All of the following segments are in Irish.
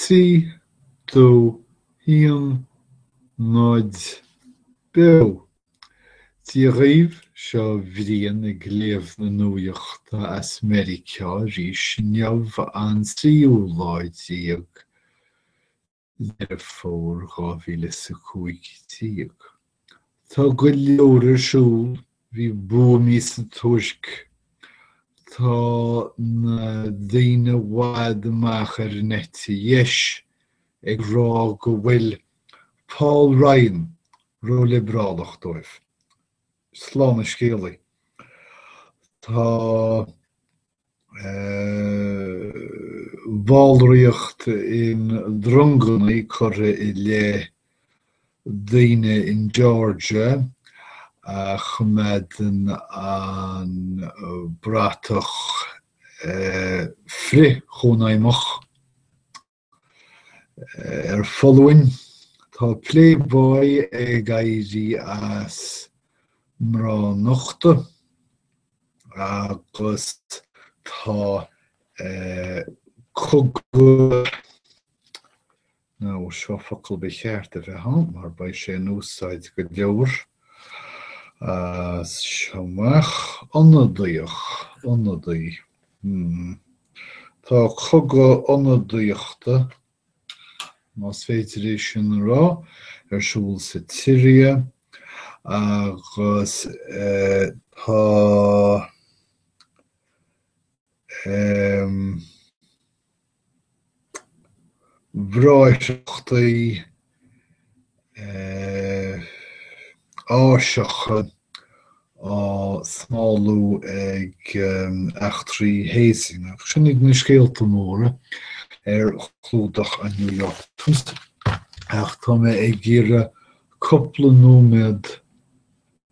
Trí, dó, haon, náid, beo. Dia dhaoibh, seo Brian ag léamh na nuaíochta as Meiriceá arís inniu an tríú lá déag Deireadh Fómhair 2015. Tá go leor ar siúl, bhí buamaí sa Tuirc, tá na daoine i bhfad amach ar an eite dheis ag rá go bhfuil Paul Ryan róliobrálach dóibh. Slán a scéalaí. Tá. ballraíocht i ndronganna curtha i leith daoine in Georgia a choimeádann an bratach frith-chónaidhmeach. Ar foluain tá Playboy ag éirí as mná nochta agus tá cogadh, nó seo focal ba cheart a bheith ann mar beidh sé in úsáid go leor as seo amach, ionadaíoch, ionadaí. Tá cogadh ionadaíochta, más féidir é sin a rá, ar siúl sa tSiria agus tá bhráithreachtaí Áiseacha á smálú ag eachtraí hazing agus sin iad na scéalta móra ar chlúdach an New York Times ach tá mé ag iarraidh cúpla nóiméad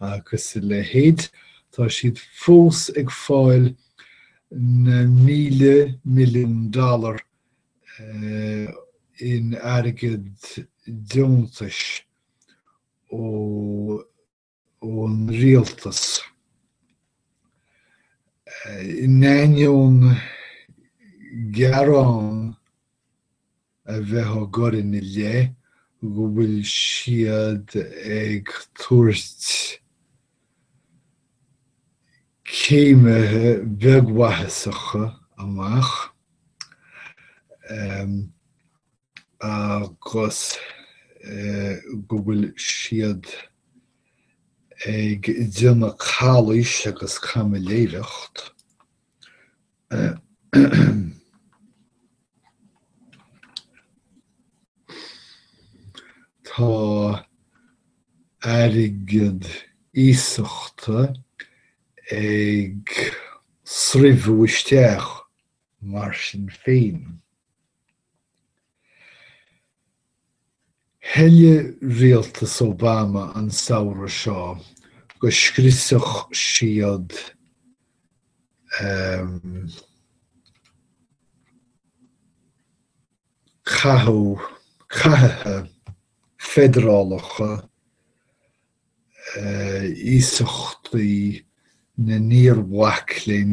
Agus a leithéid, tá siad fós ag fáil na míle milliún dollar in airgead deontais ón rialtas, in ainneoin gearán a bheith á gcur ina leith go bhfuil siad ag tabhairt céimithe beagmhaitheasacha amach agus go bhfuil siad ag déanamh calaois agus caimiléireacht. Tá airgead iasachta ag sreabhadh isteach mar sin féin. Thoiligh rialtas Obama an samhradh seo go scriosfadh siad cathuithe feidearálacha iasachtaí na n-iar-mhac léinn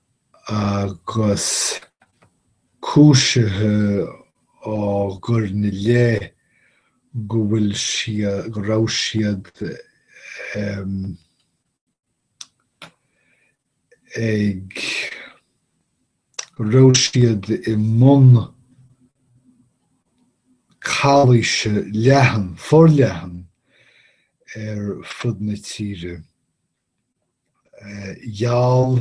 Agus cúisithe á gcur ina leith go bhfuil siad, go raibh siad ag, go raibh siad i mbun calaoise leathan, forleathan ar fud na tíre. Gheall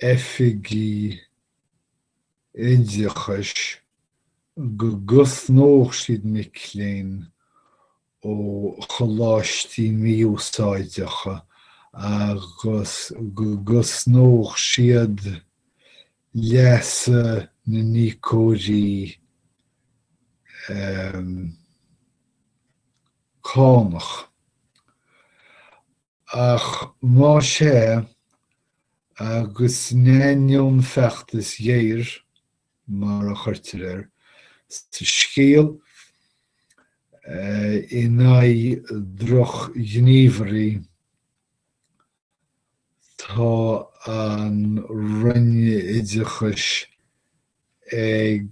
oifigigh oideachais go gcosnódh siad mic léinn ó choláistí mí-úsáideacha agus go gcosnódh siad leasa na n-íocóirí. cánach. Ach más ea, agus in ainneoin feachtais ghéir, mar a chuirtear air sa scéal, in aghaidh drochghníomhairí, Tá an Roinn Oideachais ag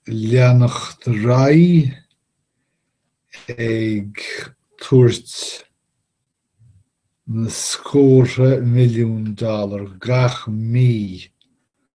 leanacht ar aghaidh ag tabhairt na scórtha milliún dollar gach mí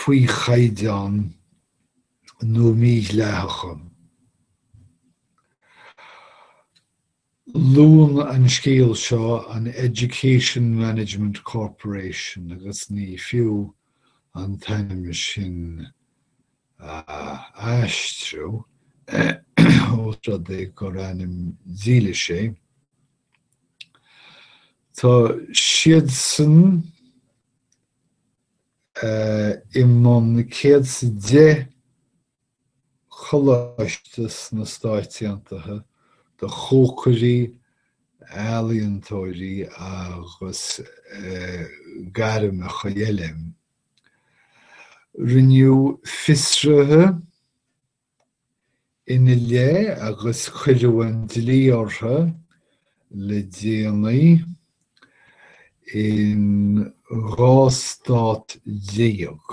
faoi chaighdeán nó mídhleathacha. Luann an scéal seo an Education Management Corporation agus ní fiú an t-ainm sin a aistriú, ós rud é gur ainm dílis é. Tá siadsan i mbun céad is a deich coláiste sna Stáit Aontaithe do chócairí, ealaíontóirí agus gairmeacha eile. Rinneadh fiosruithe Ina leith agus cuireadh an dlí orthu le déanaí in dhá stát déag,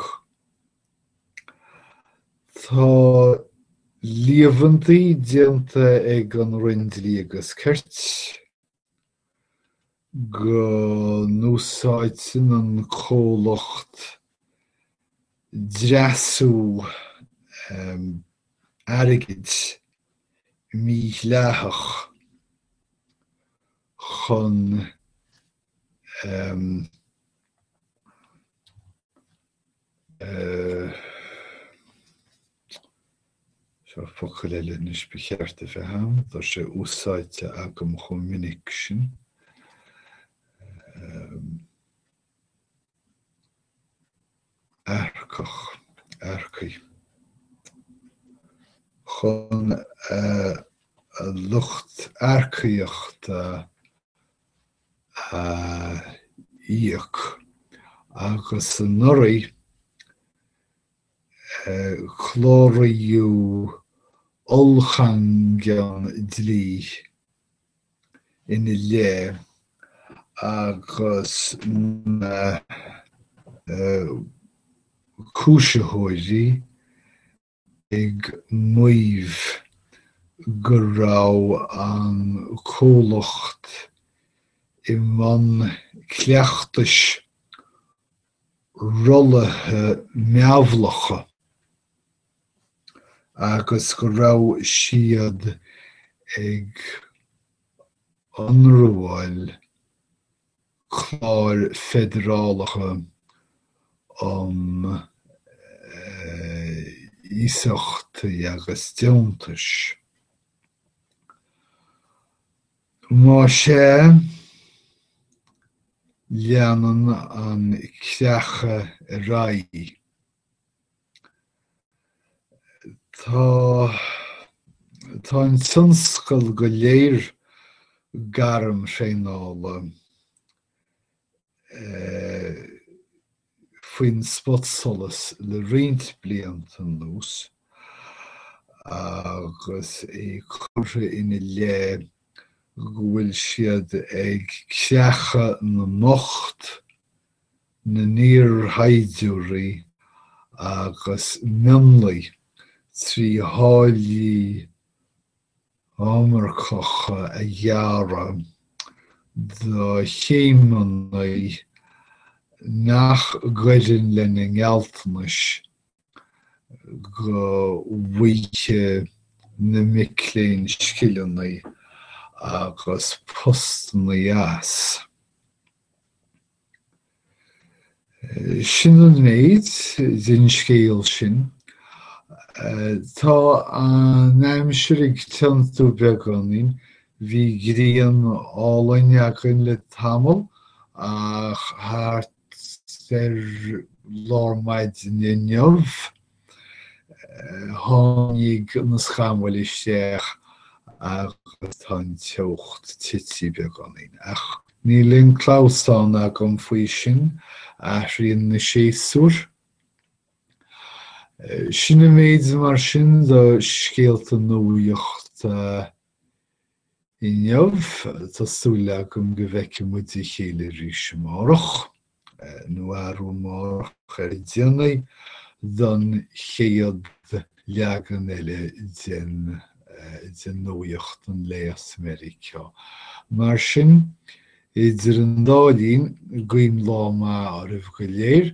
tá líomhaintí déanta ag an Roinn Dlí agus Cirt, go n-úsáideann an comhlacht dreasú airgid mídhleathach chun Seo focal eile anois ba cheart a bheith ann, tá sé úsáidte agam chomh minic sin. earcach, earcaí. Chun a lucht earcaíochta a íoc agus anuraidh cláraíodh ollchaingean dlí ina leith agus na cúisitheoirí ag maíomh go raibh an comhlacht i mbun cleachtais rollaithe meabhlacha agus go raibh siad ag ionramháil cláir feidearálacha um iasachtaí agus deontais. Má sea, leanann an creachadh ar aghaidh. Tá an tionscal go léir gairmthraenála. faoin spotsolas le roinnt blianta anuas agus é curtha ina leith go bhfuil siad ag creachadh na mbocht, na n-iarshaighdiúirí agus mionlaigh trí tháillí iomarcacha a ghearradh do chéimeanna nach gcuireann lena ngealltanais go bhfaighfidh na mic léinn scileanna agus postanna as. Sin an méid den scéal sin. Tá an aimsir ag tiontú beagáinín, bhí grian álainn againn le tamall ach thart ar lár maidine inniu, Tháinig na scamaill isteach agus tá an teocht ag titim beagáinín, ach níl aon clamhsán agam faoi sin, athraíonn na séasúir. Sin an méid mar sin de scéalta nuaíochta. Inniu, tá súil agam go bhfeicfidh muid a chéile arís amárach, nó arú amárach ar a déanaí, don chéad leagan eile de nuaíocht an lae as Meiriceá. Mar sin, idir an dá linn, guím lá maith oraibh go léir.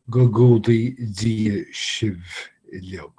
Go gcumhdaí Dia sibh uilig.